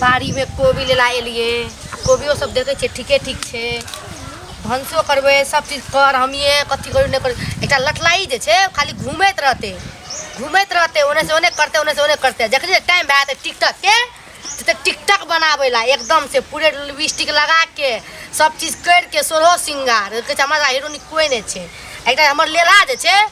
बाड़ीमे कोबी लेला एलियै आ कोबियो सब देखै छियै ठीके ठीक छै भनसो करबै सब चीज कर हमिए कथी करू नहि करू एकटा लठलाई जे छै खाली घूमैत रहतै घूमैत रहतै ओने से ओने करतै ओने से ओने करतै जखन टाइम भए तऽ टिकटक के तऽ टिकटक बनाबै ला एकदम से पूरे लिपस्टिक लगा के सब चीज करि के सोलहो श्रृंगार कहै छै हमरा हीरोनी कोई नहि छै एकटा हमर लेला जे छै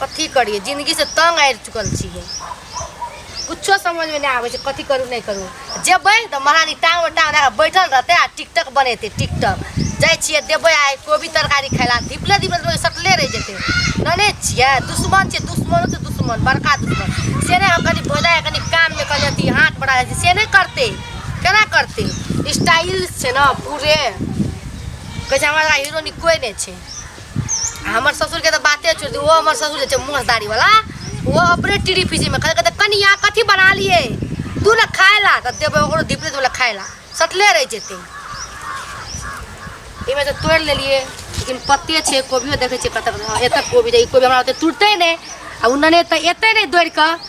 कथी करिए जिंदगी से तंग आबि चुकल छियै कुछो समझ में नहीं आवे छै कथी करू नहीं करू जेबै तऽ महारानी टांग में टांग रख बैठल रहते आ टिकटक बनेते टिकटक जाइ छियै देबै आइ कोबी तरकारी खाय लए धिपले धिपले सटले रहि जेतै जानै छियै दुश्मन छै दुश्मनो तऽ दुश्मन बड़का दुश्मन से नहि हम कनि भोजा कनि कान में कनि अथी हाथ बढ़ा जाइ से नहीं करते केना करते स्टाइल छै ना पूरे कहै छै हमरा हीरो कोई नहीं छै हमर ससुरके तऽ बाते छोड़ि दियौ ओ हमर ससुर जे छै मोसदारीवला ओ अपने टीढ़ी पीसीमे खाली कहतै कनिया कथी बना लिए तू ने खाय ला तऽ देबै ओकरो धिपले देबै खाय ला सटले रहि जेतै एहिमे तऽ तोड़ि लेलियै लेकिन पत्ते छै कोबियो देखै छियै कतऽ कतऽ एतऽ कोबी रहै ई कोबी हमरा ओते तुरतै नहि आ उन्नने तऽ एतै नहि दौड़ि कऽ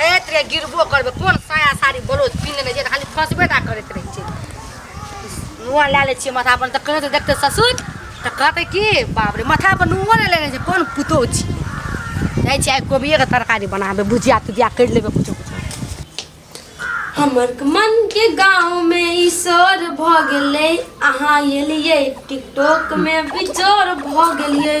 हे तेरे गिरबो करबे कोन साया साड़ी ब्लाउज पिन्ह लेने छै तऽ खाली फंसबे टा करैत रहै छै नुआ लए लै छियै माथा पर तऽ कहै तऽ देखतै ससुर तऽ कहतै कि बाप रे माथा पर नुआ नहि लेने छै कोन पुतोह छियै जाइ छियै आइ कोबिएके तरकारी बनाबे भुजिया तुजिया करि लेबै कुछो कुछो हमर मन के गांव में ई शोर भ गेलै अहाँ एलियै टिकटॉक में बिजोर भ गेलियै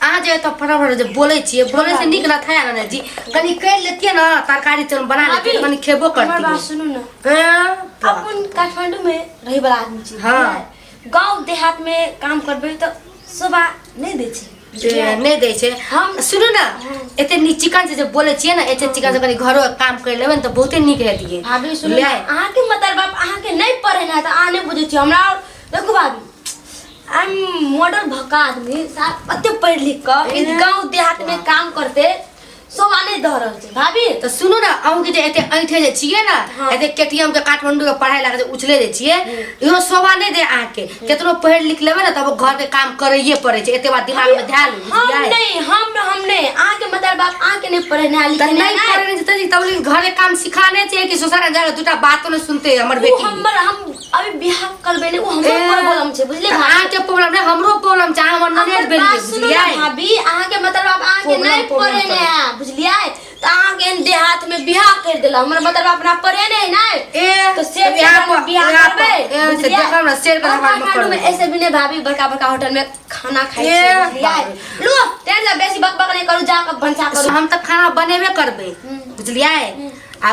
अहाँ जे एतऽ परवर जे बोलै छियै बोलै से नीक ना था ना जी कनी कर लेतिए ना तरकारी चल बना लेतिए कनी खेबो करती बात सुनू ना हां अपन काठमांडू में रहे वाला आदमी छी हां गांव देहात में काम करबे तो सुबह नहीं दे छी नहीं दे छे हम सुनो ना हाँ। एते नी चिकन से जब बोले छिए ना एते चिकन से कनी घरो काम कर लेबे तो बहुते नीक रहतिए भाभी सुनो ना अहाँ के मतलब बाप अहाँ के नहीं पढ़े ना त अहाँ नहीं बुझे छी हमरा देखो भाभी हम मॉडल भका आदमी साहब अते पढ़ लिख कर इस गांव देहात में काम करते सोवाने दह रहल छै भाभी तऽ सुनू ने अहूँ के जे एते ऐठे जे छियै ने हाँ। एते केटीएम के काठमांडू के पढ़ाई लगा जे उछले जे छियै इहो शोभा नहि दे अहाँ के केतनो पढ़ि लिख लेबै ने तब घर के काम करैये पड़े छै एते बात दिमाग में ध्यान लू, हम बुझलियै? नहीं हम हम नहीं आहाँ के मतलब बाप आहाँ के नहीं पढ़ना तऽ लिखना नहि है पढ़ने जेतै जी, तब लेल घर के काम सिखाने छै कि ससुर जाके दूटा बातो नहि सुनते हमर उ बेटी हमर हम अभी बिहार करबे ने वो हमरो ए, प्रॉब्लम छै बुझले तऽ भाभी अहाँके प्रॉब्लम नहि हमरो प्रॉब्लम छै अहाँ हमर ननद हमर भेलियै बात सुनू ने बुझलियै भाभी अहाँ के मतलब आब अहाँ के Problem, नहीं problem पड़े ने है बुझलिए तो अहाँ के एहन देहात में बियाह कर देला हमर मतलब अपना पड़े ने है ना ए तो शेर के यहाँ घर में पर- बियाह यहाँ पर- करबे ए, से बुझलिए? देखो ना, शेर के और घर में काठमांडू करबे। में ऐसे भी नहीं भाभी बड़का बड़का होटल में खाना खाई ए, छै बुझलिए बाप लो तेल से बेसी बकबक नहीं करू जाके भंसा करू हम तऽ खाना बनेबे करबै बुझलियै आ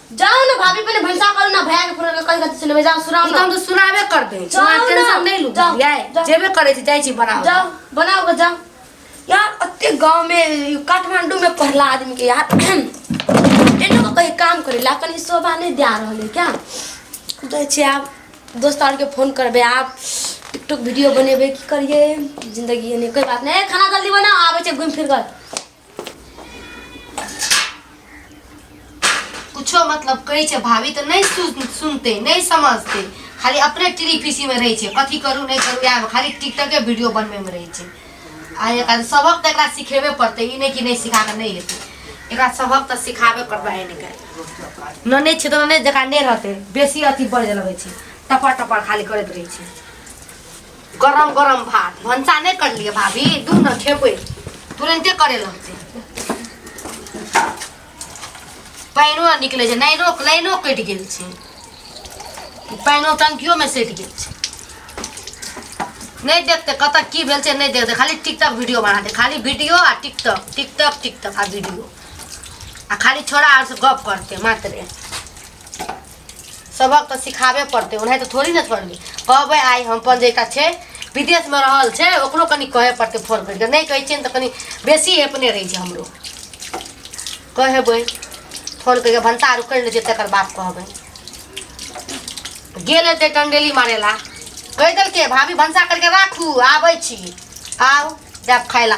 जाओ ना भाभी पहले भैंसा करो ना भैया के फोन करके कहीं कथी सुनबे जाओ सुनाओ ई त ना हम त सुनाबे कर दे जाओ वहाँ ना। टेंशन नहीं लू जाओ, बुझलियै जाओ। जेबे करे छी जाइ छी बनाओ जाओ बनाओ के जाओ यार अत्ते गांव में काठमांडू में पढ़ला आदमी के यार एनो को कहीं काम करे ला कहीं शोभा नहीं दिया रहले क्या जाय छी आप दोस्त आर के फोन करबे आप टिकटॉक वीडियो बनेबे की करिए जिंदगी एने कोई बात नहीं ए, खाना जल्दी बनाओ आबे छै घूम फिर कर कुछो मतलब कहै छै भाभी तऽ नहि सुन सुनतै नहि समझतै खाली अपने टिरी पीसीमे रहै छै कथी करू नहि करू इएह खाली टिकटके वीडियो बनबैमे रहै छै आ एकरा सबक तऽ एकरा सिखेबे पड़तै ई नहि कि नहि सिखा कऽ नहि हेतै एकरा सबक तऽ सिखाबे पड़बै एनेके न नहि छै तऽ नहि जकरा नहि रहतै बेसी अथी बढ़ लगै छै टपर टपर खाली करैत रहै छै गरम गरम भात भंसा नहीं कर लिए भाभी दू न खेबे तुरंते करे लगते पानिओ नहि निकलै छै लाइनो लाइनो कटि गेल छै ई पानिओ टंकियोमे सटि गेल छै नहि देखते कतऽ की भेल छै नहि देखते खाली टिकटॉक वीडियो बना दे खाली वीडियो आ टिकटॉक टिकटॉक टिकटॉक आ वीडियो आ खाली छोड़ा आर से गप करते मात्र सबक तऽ सिखाबे पड़तै ओनाहि तऽ थोड़ी ने पढ़बै कहबै आइ हम अपन जेकरा छै विदेशमे रहल छै ओकरो कनि कहै पड़तै फोन करिके नहि कहै छियै तऽ कनि बेसी अपने रहै छै हमरो कहबै फोन करिके भनसा आर उकड़ि लै छै तकर बाद कहबै गेल हेतै टंडेली मारे ला कहि देलकै भाभी भनसा करिके राखू आबै छी आउ जायब खाय ला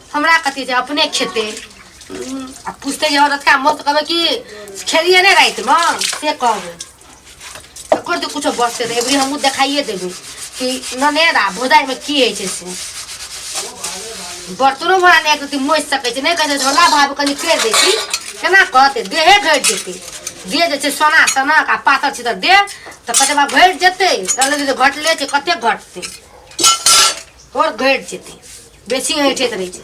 हमरा कथी छै अपने खेते हम्म, आ पूछते जे औरत का मौत कहबै कि खेलिए नहि रातिमे से कहबै ओकर तऽ कुछो बचते तऽ एबरी हमहूँ देखाइए देबै कि ननेद आ भोजाइमे की होइ छै से बर्तनो भरा नहि एक रति मोसि सकै छै नहि कहै छै भोला भाभी कनि करि दै छी केना कहतै देहे घटि जेतै देह जे छै सोना सनक आ पातर छै तऽ देह तऽ कते बार घटि जेतै कहले जे घटले छै कते घटतै आओर घटि जेतै बेसी ऐठैत रहै छै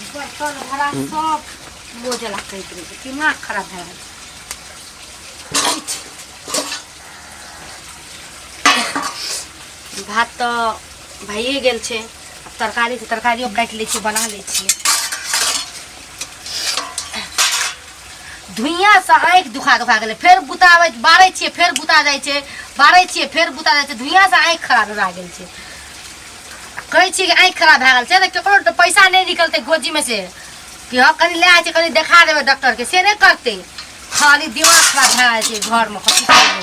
बर्तन भरा सब मोजला कैत रहै छै दिमाग खराब भए गेल भात तऽ भइए गेल छै आब तरकारी तऽ तरकारियो काटि लै छियै बना लै छियै धुइयाँसँ आँखि दुखा दुखा गेलै फेर बुताबै बारै छियै फेर बुता जाइ छै बारै छियै फेर बुता जाइ छै धुइयाँसँ आँखि खराब भए गेल छै कहै छियै कि आँखि खराब भए गेल छै तऽ ककरो तऽ पैसा नहि निकलतै गोजीमे से कि हँ कनि लए जाइ छै कनि देखा देबै डॉक्टरके से नहि करतै खाली दिमाग खराब भए जाइ छै घरमे कथी करबै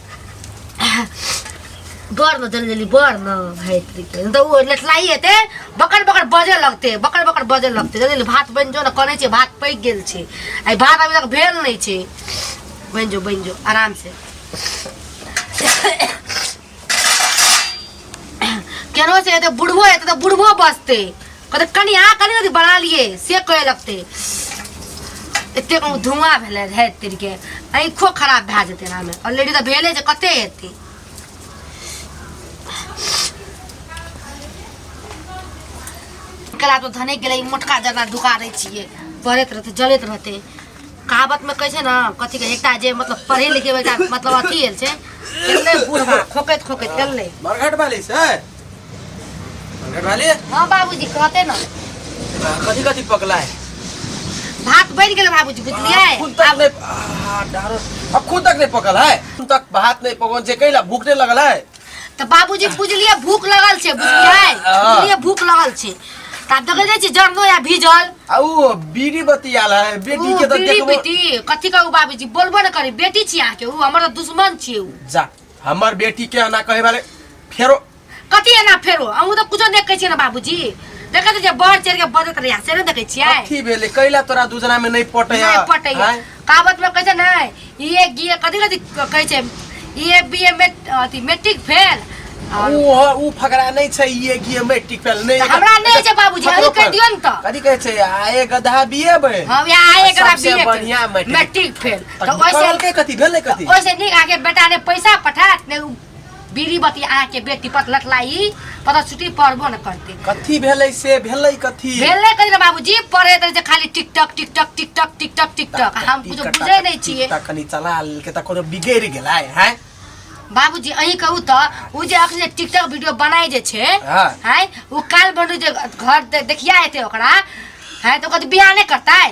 बर में चल गेली बर में भाई तरी के तो वो लटलाई हेते बकर बकर बजे लगते बकर बकर बजे लगते जल्दी भात बन जो ना कने छे भात पैक गेल छे आई भात अभी तक भेल नहीं छे बन जो बन जो आराम से केनो से एते बुढ़बो एते तो बुढ़बो बसते कहते कनी आ कनी अथी बना लिए से कहे लगते एते कहूँ धुआं भेले रहे तेरी के आँखो खराब भए जेतै एनामे ऑलरेडी तऽ भेले जे कते हेतै कला तो धने गेलै मोटका जरना ढुका दै छियै पड़ैत रहतै जलैत रहतै कहावत में कहै छै ने कथी के एकटा जे मतलब पढ़े लिखे वाला एकटा मतलब अथी एल छै एलै बूढ़ा खोकैत खोकैत एलै मरघट वाली से मरघट वाली हाँ बाबूजी कहते ने कथी कथी पकला है भात बनि गेलै बाबूजी बुझलियै खून तक आब नहीं आ, डारो अब खून तक नहीं पकल है खून तक भात नहीं पकल जे कैला भूख नहीं लगल है तऽ बाबूजी बुझलियै भूख लगल छै बुझलियै बुझलियै भूख लगल छै तऽ आब देखै जाइ छी जरनो या भीजल आ ऊ बीड़ी बतियाल है बेटी ऊ के तऽ बीड़ी देखबो पीटी कथी कहू बाबूजी बोलबो ने करी बेटी छी अहाँके ऊ हमर तऽ दुश्मन छी ऊ जा हमर बेटी के एना कहे वाले फेरो कथी एना फेरो अहूँ तऽ कुछो देखै छियै ने बाबूजी देखै छियै बढ़ चढ़ि के बजत रहिया से ने देखै छियै अथी भेले कैला तोरा दूजना में नहीं पटे नहीं पटैया। काबत में कैसे नहीं ये गिए कथी कथी कहै छै ये बी ए में अथी मैट्रिक फेल और ऊ ह- ऊ फकरा नहीं छै ये कि मैट्रिक फेल नहीं तऽ हमरा नहि छै बाबूजी अही कहि दियौ ने तऽ कथी कहै छै आ ए गधा बिए बे हम यहाँ आए करा सबसे बी ए बढ़िया मैट्रिक। मैट्रिक फेल तऽ ओइसे कहलकै कथी भेलै कथी ओइसे नीक आगे बेटा ने पैसा पठात ने उ बीड़ी बती आ के बेटी पत लटलाई पता छुट्टी पड़बो न करते कथी भेलै से भेलै कथी भेले कहीं ना बाबूजी पढ़े तो जे खाली TikTok TikTok TikTok TikTok TikTok हम कुछ टिकटक बुझे नहीं छिए टिकटक कनी चला लेलकै तऽ कोनो बिगैड़ गेलै हैं बाबूजी अही कहू तो उ जे अखने टिकटॉक वीडियो बनाई जे छे हाँ। हैं उ काल बनू जे घर दे- देखिया हेते ओकरा हैं तो कत बियाह नहीं करता है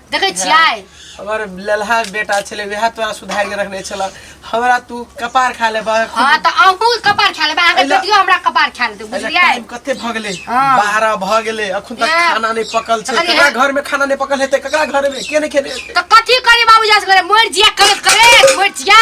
देखै छियै हमर ललहा बेटा छलै वएह तोरा सुधार के रखने छल हमरा तू कपार खा ले हां त अहू कपार खा ले अहाँ के बेटियो हमरा कपार खा ले बुझलियै टाइम कते भ गेलै 12 भ गेलै अखन तक खाना नै पकल छै ककरा घर में खाना नै पकल हेतै ककरा घर में के नै खेने त कथि करी बाबूजी से करे मोर जिया करे करे मोर जिया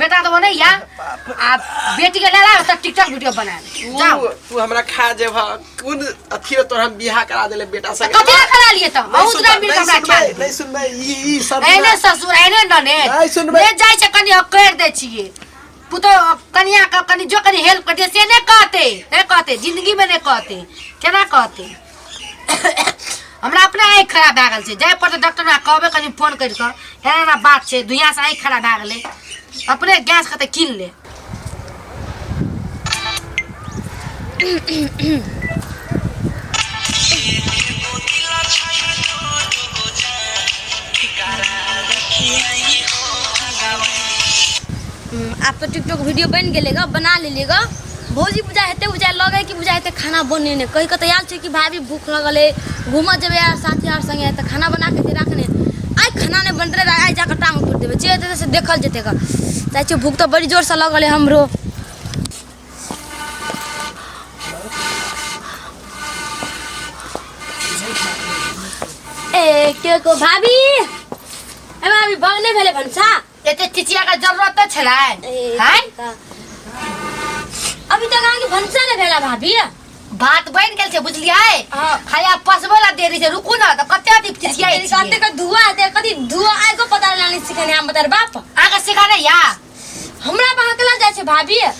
बेटा तो बने या आ बेटी के ले ला त टिकटॉक वीडियो बना ले जाओ तू तू हमरा खा जेब कुन अथी में तोर हम बियाह करा देले बेटा त संगे कथी ला करा लिए त बहुत सुनबै, राम मिल नहीं हमरा खा सुनबै, नहीं सुनबै ई ई सब एने ससुर एने नने नहीं सुनबै। ले जाय छै कनी अकड़ दे छिए पुतो कनिया का कनी जो कनी हेल्प कर दे से ने कहते ने कहते जिंदगी में ने कहते केना कहते हमरा अपने आँखि खराब भए गेल छै जाय पड़तै डॉक्टर हमरा कहबे कनि फोन करि कऽ एना एना बात छै दुनियासँ आँखि खराब भए गेलै अपने गैस कतऽ कीन ले हम्म, आब तो टिकटॉक वीडियो बन गेलेगा बना लेलेगा भौजी बुझा हेतै बुझा लगे कि बुझा हेतै खाना बने ने कहि कऽ तऽ आयल छै कि भाभी भूख लगल है घूमऽ जेबै यार साथी यार संगे तऽ खाना बना के दे राखने आइ खाना नहि बनते रहे आइ जाकर टांग तोड़ देबै जे हेतै से देखल जेतै ग जाइ छियै भूख तऽ बड़ी जोरसँ लगल है हमरो ए के को भाभी ए भाभी बगने भेलै भनसा एते चिचिया का जरूरत तो छला है हैं अभी तक आगे भनसा न भेला भाभी बात बन गेल छै बुझलियै हाँ। खाया पसबो ला देरी छै रुकू ना त कते अति चिचिया तेरी कहते का धुआ आते कदी धुआ आए को पता लाने सिखाने हम बता बाप आगे सिखाने या हमरा बहकला जाय छै भाभी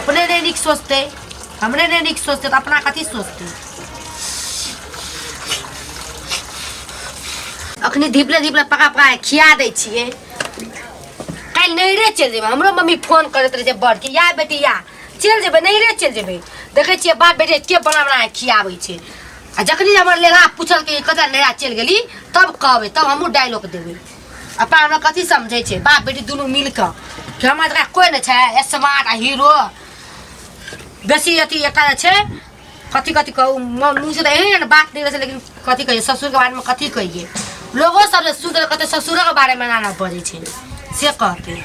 अपने नहीं निक सोचते हमने नहीं निक सोचते तो अपना कथी सोचते अखनी धीपले धीपले पका पका के खिया दै छियै काल्हि नैहरे चलि जेबै हमरो मम्मी फोन करैत रहै जे बड़के या बेटी या चलि जेबै नैहरे चलि जेबै देखै छियै बाप बेटे के बना बना के खियाबै छै आ जखनी हमर लेला पूछलकै जे कतऽ नैहरा चलि गेली तब कहबै तब हमहूँ डायलॉग देबै आ पाहुना कथी समझै छै बाप बेटी दुनू मिल कऽ कि हमरा तोरा कोइ नहि छै स्मार्ट आ हीरो बेसी अथी एकर छै कथी कथी कहू म- मुँह से तऽ एहन बात नहि रहै छै लेकिन कथी कहियै ससुरके बारेमे कथी कहियै लोगो सब जे सुनतै तऽ कहतै ससुरोके बारेमे एना एना बजै छै से कहतै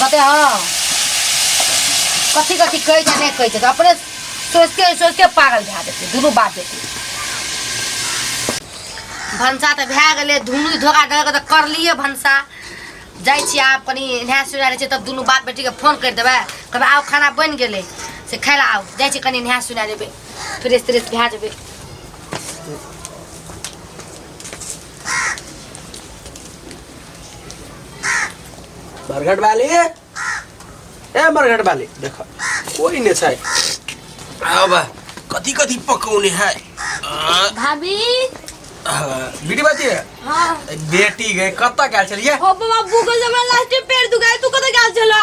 कते हँ कथी कथी कहै छै नहि कहै छै तऽ अपने सोचिते सोचिते पागल भए जेतै दुनू बात जेतै भनसा तऽ भए गेलै धुनु धोखा धोखा तऽ करलिए भनसा जाइ छियै आब कनि नहा सुना लै छियै तब दुनू बाप बेटीके फोन करि देबै कहबै आउ खाना बनि गेलै से खाय लए आउ जाइ छियै कनि नहा सुना लेबै फ्रेश त्रेश भए जेबै बरगट वाली ए बरगट वाली देख कोई नहीं छै अब कथी कथी पकौने है आ, भाभी आ, बेटी बाती है हाँ बेटी गए कत्ता गए चलिए हो बाबा गूगल से हमरा लास्ट टाइम पेड़ दुखाए तू कतऽ गेल छला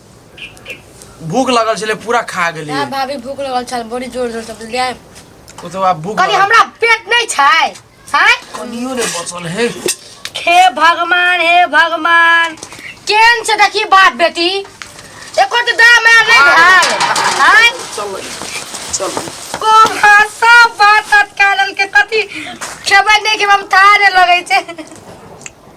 भूख लगल छले पूरा खा गेली आ भाभी भूख लगल छल बड़ी जोर जोर से बुझलियै ओ तो आब भूख कनी लगल। हमरा पेट नहीं छै हैं कनियो रे बचल है हे भगवान हे भगवान केन से देखी बाप बेटी एको तो दाम में नहीं भेल हैं चल चल को भाषा बात अटकालल के कथी खेबै नहीं खेबै हम थारे लगै छै